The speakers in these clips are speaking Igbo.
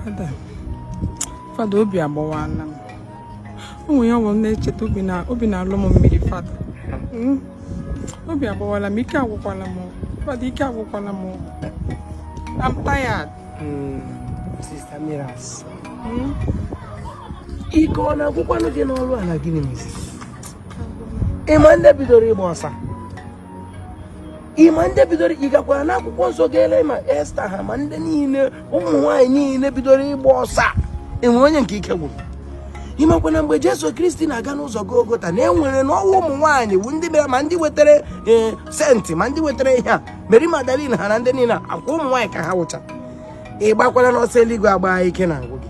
fada fada obi agbawala m o nwere ihe ọ wụ m na-echeta obi na-alọ m mmiri fada hmm? obi agbawala m ike agwụkwala m fada ike agwụkwala m I'm tired. Hmm, Sister Miras. Hmm? Ike ọ na-agwụkwanụ gị na ị rụala gịnị mezi? Ị ma ndị bidoro ịgba ọsọ a? ị ma ndị bidoro ị gakwara n'akwụkwọ nsọ gaa lee ma esta ha ma ndị niile ụmụ nwaanyị niile bidoro ịgba ọsọ a e nwere onye nke ike gwụrụ ị makwa na mgbe jesu kristi na-aga n'ụzọ golgota na e nwere na ọ wụ ụmụ nwaanyị bụ ndị bịara ma ndị wetara e, senti ma ndị wetara ihe a meri magdalin ha na ndị niile ọ kwa ụmụ nwaanyị ka ha wụcha ị gbakwalanụ ọsọ eluigwe agba ike na-agwụ gị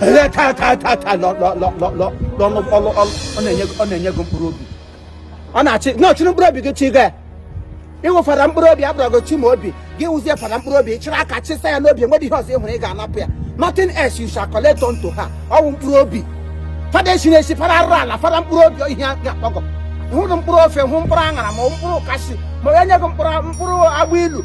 ele taa taa taa taa lọ lọ lọ lọ lọ lọnụ ọlụ ọlụ ọ na-enye ọ na-enye gị mkpụrụ obi ọ na-achị na ọ chịrị mkpụrụ obi gị chi gị ị wụ fada mkpụrụ obi abụrụ gị chi ma obi gị wụzie fada mkpụrụ obi chịrị aka chịsa ya n'obi enweghị ihe ọzọ ị hụrụ ị ga-anapụ ya nothing else you shall collect unto her ọ wụ mkpụrụ obi fada esi na-esi fada arụ ala fada mkpụrụ obi ihe ga-akpọgọ hụrụ mkpụrụ ofe hụ mkpụrụ aṅara ma mkpụrụ kashu ma onye nye gị mkpụrụ mkpụrụ agbailu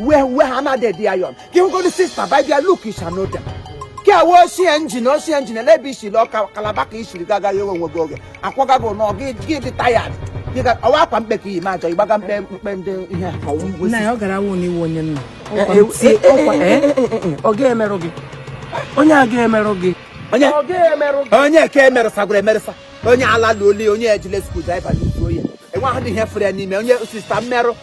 wee wee ha na dị ayọn gị hụgoro sista by their look you shall know them gị awa ochie njin ochie njin ele ebe isiri ọka kalaba ka isiri gị agaghị enwe onwe gị oge akwaga gị nọ gị gị dị tired gị ga ọ wụ akwa mkpe ka i yi ma ajọ ịgbaga mkpe mkpe ndị ihe a ka ọ wụ ngwa nna ya ọ gara awụ na ị wụ onye nna ọ ga-emerụ gị onye a ga-emerụ gị onye ọ ga-emerụ gị onye ka emerụsagwara emerụsa onye ala lụoli onye ejile screwdriver n'uzu oye enwe ahụ dị ihe fere ya n'ime onye sista mmerụ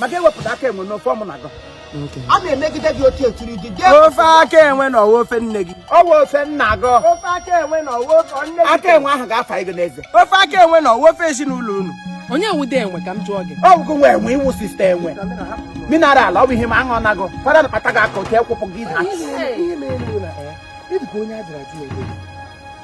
maka e wepụta aka enwe n'ofe ọmụ na gọ a na-emegide gị otu etiri gị gị ofe aka enwe nọ ọ wụ ofe nne gị ọ wụ ofe nna gị ofe aka enwe nọ ọ wụ ofe nne gị aka enwe ahụ ga-afa gị n'eze ofe aka enwe nọ ọ wụ ofe ezinụlọ unu onye wụdị enwe ka m jụọ gị ọ bụ gị wụ enwe ị wụ sista enwe mineral ọ bụ ihe ma aṅụ nago fada kpata gị aka otu ekwụpụ gị ịdị ka onye a jụrụ ajụ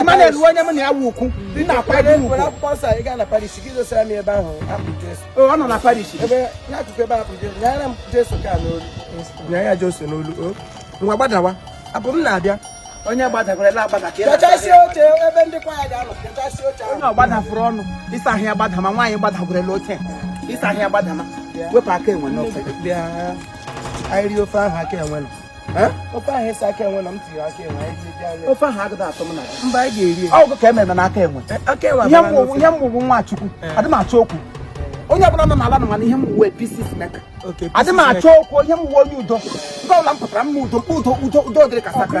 Emmanuel ruo onye m na ya wu ukwu nna akwado ukwu ọ nọ na parish nya ya Jesu n'olu ngwa gbadawa abụ m na-abịa onye gbadakwara agbada ka kachasị oche ebe ndị kwaya ga-anọ kachasị oche onye ọ gbadafụrụ ọnụ ịsa ahịa gbadama nwaanyị gbadagwurela oche ịsa ahịa gbadama wepụ aka enwe n'ofe bịa anyị rie ofe ahụ aka enwe nọ ofe ahụ ị sị aka enwe nọ m tiri aka enwe ofe ahụ agụda atọ m na mba anyị ga-eri ya ọgụ ka e mere na aka enwe ihe m bụ wụ nwa chukwu adị m achọ okwu onye ọbụla nọ n'ala nọ ma na ihe m wụ wụ peacemaker adị m achọ okwu ihe m wụ wụ onye udo nga ọbụla m pụtara mma udo udo udo udo dịrị ka sakra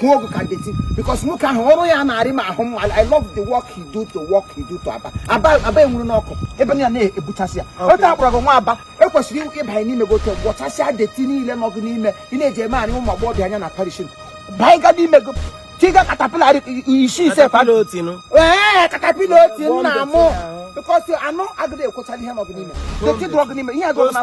kwuo ọgwụ ka deti because nwoke ahụ ọrụ ya na-arị m ahụ mma I love the work he do to work he do to Aba Aba Aba enwuru n'ọkụ ebe ya na-ebuchasị ya otu a kpọrọ gị nwa Aba ekwesịrị ịbanye n'ime gị Otti gwọchasịa dirty niile nọ gị n'ime ị na-eji eme anyị ụmụ agbọghọbịa anya na parish banye gị n'ime gị tiga caterpillar isi ise ee caterpillar Otti nna mụ because anụ agịrị ekwechara ihe nọ gị n'ime dirty dụrọ gị n'ime ihe agụrụ na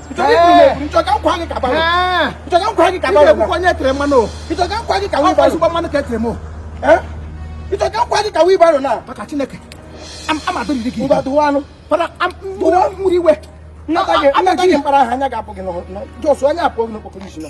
nchọga nkwa gị kaba nchọga nkwa gị kaba ekwukwa onye tere mmanụ nchọga nkwa gị kawa ịbara ezigbo mmanụ ka e tere m nchọga nkwa gị kawa ịbara na maka Chineke amadụriri gị ngwa dụwa anụ fada mmụrụ iwe nata gị mkpara ahụ anya ga-apụ gị n'ọjọsụ anya apụ gị n'okpokoro isi na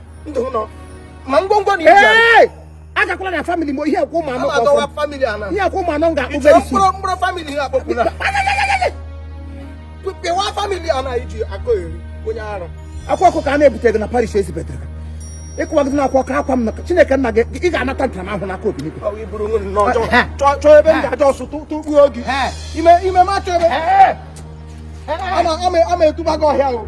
ndụ m nọ ma ngwongwo na ije agakwala na family mo ihe akwụ ụmụ anọ ihe akwụ ụmụ anọ m ga-akpụ very soon mkpụrụ family ha akpọpụla pịwa family a na iji akọ eri onye ara akwa ọkụ ka a na-ebute gị na parish ezibetere ịkụwa gị n'akwa ọkụ akwa m na Chineke nna gị ị ga-anata ntaramahụhụ n'aka obi n'igwe chọọ ebe m ga-aja ọsụ tụkpuo gị ime ime ma chọọ ebe ama etuba gị ọhịa o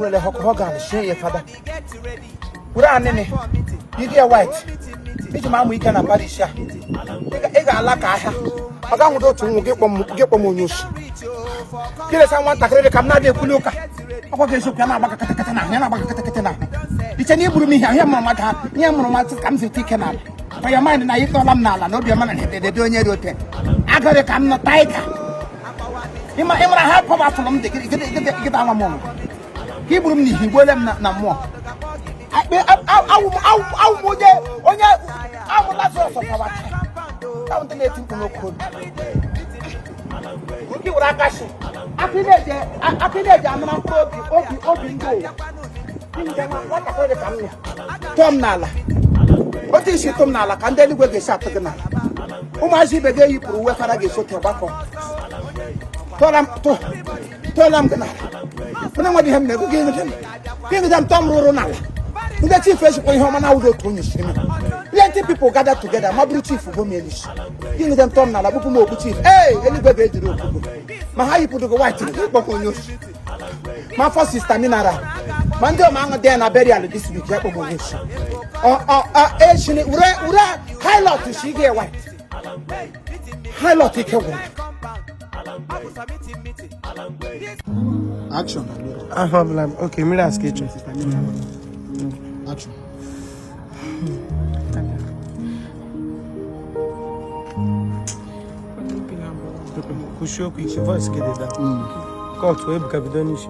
wele hogan shie ya fada were anịnị yiri gị white iji ma amụ ike na parish a ị ga-ala ka ahịa ọ ga nwụdo otu nwa gị kpọ m onye oshi gị lesa nwatakịrị dị ka m na-adị ekwuli ụka ọkwa gị eziokwu ya na-agba gị katakata n'ahụ ya na-agba gị katakata n'ahụ i che na i gburu m ihe ahịa mụrụ mmadụ ha ihe mụrụ mmadụ ka m zete ike n'ala for your mind na ị tụọla m n'ala na obiọma na edede onye dị ote agụrị ka m nọ tiger ị mara ha pọm afụrụ m dị gịta nwa m ọnụ ka i gburu m n'ihi gbuole m na mmụọ awụ m onye onye awụ Lazarus ọkawa ndị na-eti mkpụrụ okwu were aka si akị e ji amara mkpụrụ obi obi obi ndị ụwa tụọ m n'ala otu i si tụọ m n'ala ka ndị eluigwe ga-esi atụ gị n'ala ụmụazị ibe gị eyipụrụ uwe fada ga-esote gbakọ tụọra m tụ tụọla m gị n'ala onye nwe dị ihe m na-ekwu gị ịnụcha m gị ịnụcha m tụọ m rụrụ n'ala ndị chief echekwa ihe ọma na awụdị otu onye si eme plenty people gather together ma bụrụ chief bụ melis gị ịnụcha m tụọ m n'ala kpụpụ m okpu chief ee eluigwe ga-ejiri okpukpu ma ha yipụrụ gị white kpọọ gị onye osi ma afọ sista mineral ma ndị ọma aṅụ dị na burial this week ya kpọọ gị onye osi echini were were hilot si gị white hilot ike gwụrụ Action. Aha ọbụla oke mmiri asị ka ịchọ. Action. Kwụsị okwu isi voice gị dị da. Cut Ebuka bido n'isi.